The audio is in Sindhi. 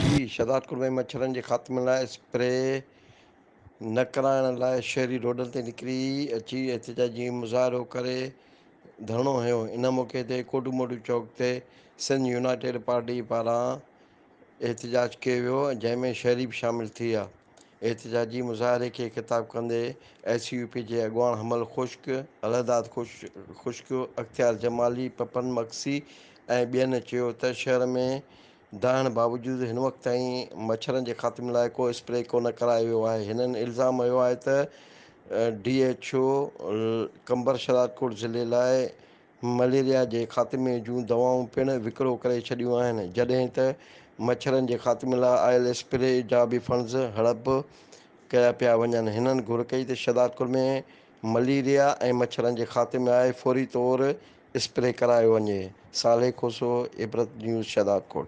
جي شهدادڪوٽ ۾ مڇرن جي خاتمي لاء اسپري نه ڪرائڻ لاء شهري روڊن تي نڪري اچي احتجاجي مظاهرو ڪري ڌرڻو هنيو ان موقعي تي ڪوڊو موڊو چوڪ تي سنڌ يونائيٽيڊ پارٽي پاران احتجاج ڪيو ويو جنهن ۾ شهري به شامل ٿيا احتجاجي مظاهري کي خطاب ڪندي ايس يو پي جي اڳواڻ حمل خشڪ الهداد خشڪ اختيار جمالي پپن مگسي ۽ ٻين چيو ته شهر ۾ ڊاهڻ باوجود هن وقت تائين مڇرن جي خاتمي لاء ڪو اسپري ڪونه ڪرايو ويو آهي هنن الزام هنيو آهي ته ڊي ايڇ او قمبرشهدادڪوٽ ضلعي لاء مليريا جي خاتمي جون دوائون پڻ وڪرو ڪري ڇڏيون آهن جڏهن ته مڇرن جي خاتمي لاء آيل اسپري جا به فنڊز هڙپ ڪيا پيا وڃن هنن گهر ڪئي ته شهدادڪوٽ ۾ مليريا ۽ مڇرن جي خاتمي آء فوري طور اسپري ڪرايو وڃي، صالح کوسو، عبرت نيوز شهدادڪوٽ.